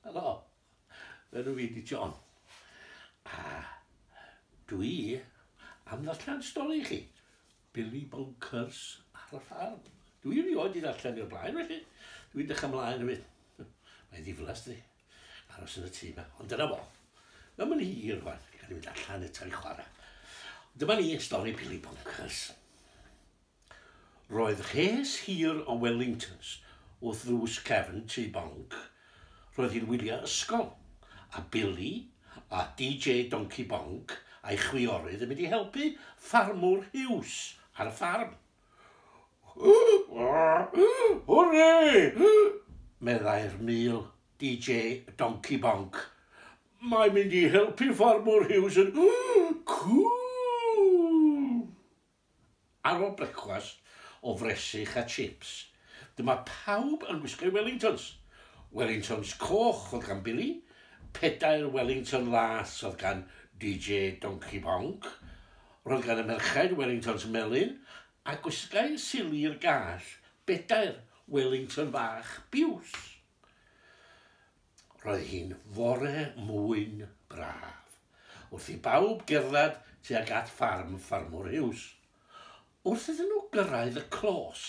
Helo, enw fi di John. A dwi am ddarllen stori i chi. Billy Bonkers ar y ffarm. Dwi erioed wedi darllen i'r blaen felly. Dwi'n dechrau mlaen i mynd. Mae'n ddiflas di. Aros yn y tŷ yma. Ond dyna fo. Mae'n mynd hir rwan. Gan i mynd allan eto i chwarae. Dyma ni, stori Billy Bonkers. Roedd rhes hir o Wellingtons wrth ddrws cefn tŷ Bonc. Roedd hi'n wyliau ysgol, a Billy a DJ Donci Bonc a'i chwiorydd yn mynd i helpu Ffarmwr Huws ar y ffarm. Hwrê! meddai'r mul, DJ Donci Bonc. Mae mynd i helpu Ffarmwr Huws yn cŵl! Ar ôl brecwast o fresych a chips, dyma pawb yn gwisgo'u Wellingtons. Wellingtons coch oedd gan Billy, pedair Wellington las oedd gan DJ Donkey Bonc, roedd gan y merchaid Wellingtons melyn, a gwisgai Sili i'r gall bedair Wellington fach biws. Roedd hi'n fore mwyn braf, wrth i bawb gerdded tuag at ffarm Ffarmwr Hughes. Wrth iddyn nhw gyrraedd y clos,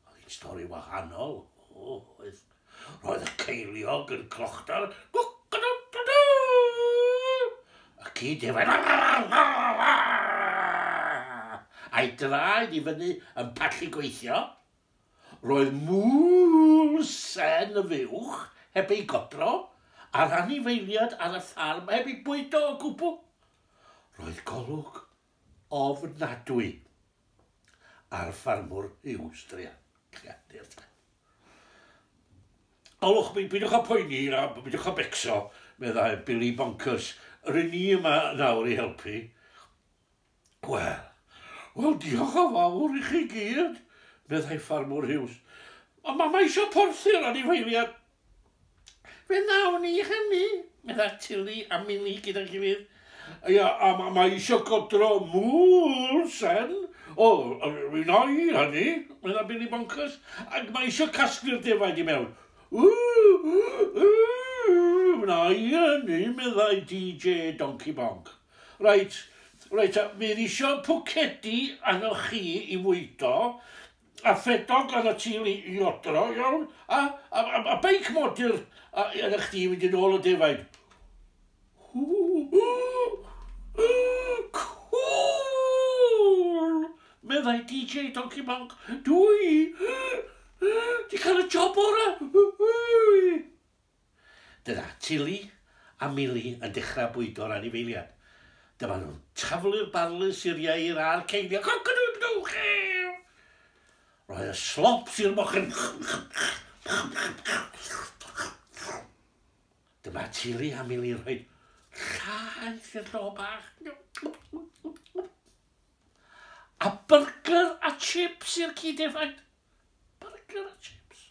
oedd hi'n stori wahanol, oedd. Roedd y ceiliog yn clochdal, y ci defaid, a'i draed i fyny yn pallu gweithio, Roedd Mul-sen y fuwch heb ei godro, a'r anifeiliaid ar y ffarm heb eu bwydo o gwbl. Roedd golwg ofnadwy ar ffarmwr Hughes, Tria. Olwch, beidiwch â phoeni a beidiwch â becso, meddai Billy Bonkers. Rŷn ni yma nawr i helpu. Wel, wel diolch yn fawr i chi gyd, meddai Ffarmwr Hughes. Ond mae eisiau porthi'r anifeiliad. Fe wnawn ni hynny, meddai Tilly a Minnie gyda'i gilydd. Ia, a mae ma eisiau godro mŵl sen. O, fe wna i hynny, meddai Billy Bonkers, ac mae eisiau casglu'r defaid i mewn. Ww, ww, ww, wna i hynny, meddai DJ Donkey Bonk. Reit, reit ta, bydd isio pwcedi arnoch chi i fwydo, a ffedog arnot ti i i odro, iawn? A, a, a, a beic modur a, arnoch chdi i fynd yn ôl y defaid. Cŵl! meddai DJ Donkey Monk. Dwi 'di cael y job orau! Dyna Tilly a Milly yn dechrau bwydo'r anifeiliad. Dyma nhw'n taflu'r barlys i'r ieir a'r ceiliog. Coc-a-doodle-doo! Chee! Rhoi y slops i'r mochyn. Dyma Tilly a Milly yn rhoi llaeth i'r llo bach. A byrgyr a chips i'r ci defaid. Byrgyr a chips.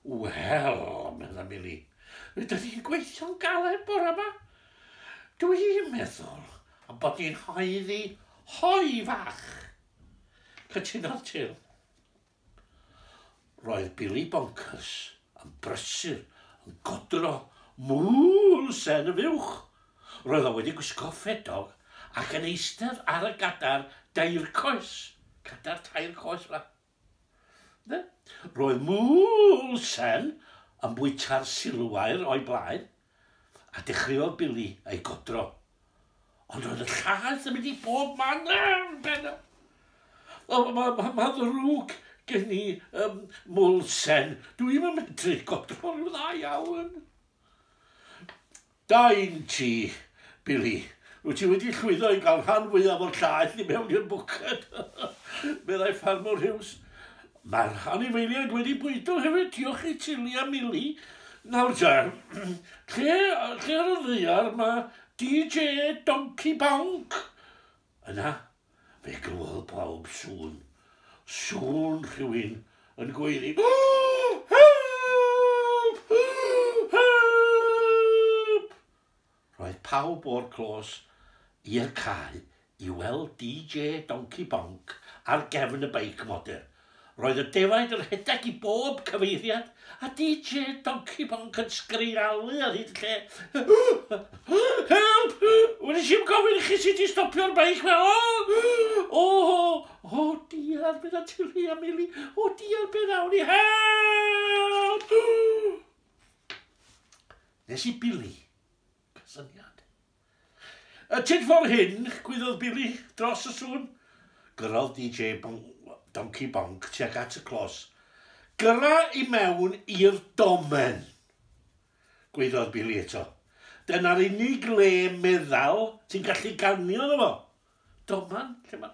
Wel, medda Mili, rydyn ni'n gweithio'n galed bore yma. Dw i'n meddwl am bod ni'n haeddu hoi fach. Cytunodd Til. Roedd Billy Bonkers yn brysur yn godro mŵl sen y fuwch. Roedd o wedi gwisgo ffedog ac yn eistedd ar y gadar dair coes. Cadar tair coes, fa. Ynde? Roedd Moulsen yn bwyta'r silwair o'i blaen, a dechreuodd Billy ei godro. Ond roedd y llaeth yn mynd i bob man yn pen o. O, mae ma, ma, ma ddrwg gen i, um, Moulsen. Dwi ddim yn medru godro rhyw dda iawn. Da un ti, Billy. Wyt ti wedi llwyddo i gael rhan fwyaf o'r llaeth i mewn i'r bwced, meddai Ffarmwr Hughes. Mae'r anifeiliaid wedi bwydo hefyd, diolch i Tilly a Milly. Nawr te, lle, lle ar y ddaear mae DJ Donkey Bonk? Yna, Fe glywodd pawb sŵn. Sŵn rhywun yn gweiddi, Help! Help! Roedd pawb o'r clos i'r cae i weld DJ Donkey Bonc ar gefn y beic modur. Roedd y defaid yn rhedeg i bob cyfeiriad, a DJ Donkey Bonc yn sgrialu ar hyd lle. Help! Wnes i'm gofyn i chi sut i stopio'r beic ma! O! O! O! Diar, meddai Tilly a Milly. O diar, be wnawn ni? Help! Nes i Billy Cysyniad. Y tyd for hyn, gwyddod Billy dros y sŵn. Gyrraodd DJ Donkey Bonc tuag at y clos. Gyrra i mewn i'r domen! Gwyddod Billy eto. Dyna'r unig le meddal ti'n gallu ganio yno fo. Doman? Lle mae...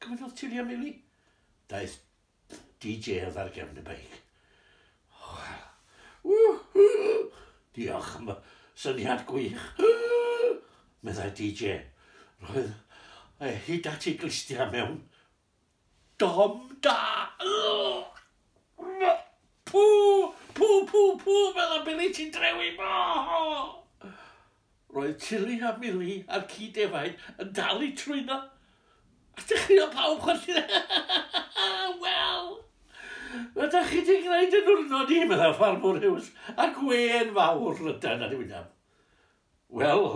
Cyfynnodd Tillia Milly. Daeth DJ oedd ar gefn y beic. Diolch am y syniad gwych, meddai DJ. Roedd e hyd at ei glustia mewn dom da. Pŵ, pŵ, pŵ, pŵ, meddai Billy, ti'n drewi mo! Roedd Tilly a Milly a'r ci defaid yn dal i trwyno, a dechreuodd pawb chwerthin. Wel, fe da chi di gwneud yn wrno ni, meddai Ffarmwr Hughes, a gwên fawr lydan ar ei wyneb. Wel,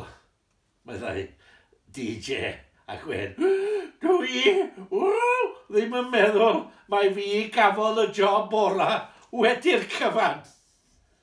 meddai DJ a gwên, dw i ww, ddim yn meddwl mai fi gafodd y job orau wedi'r cyfan.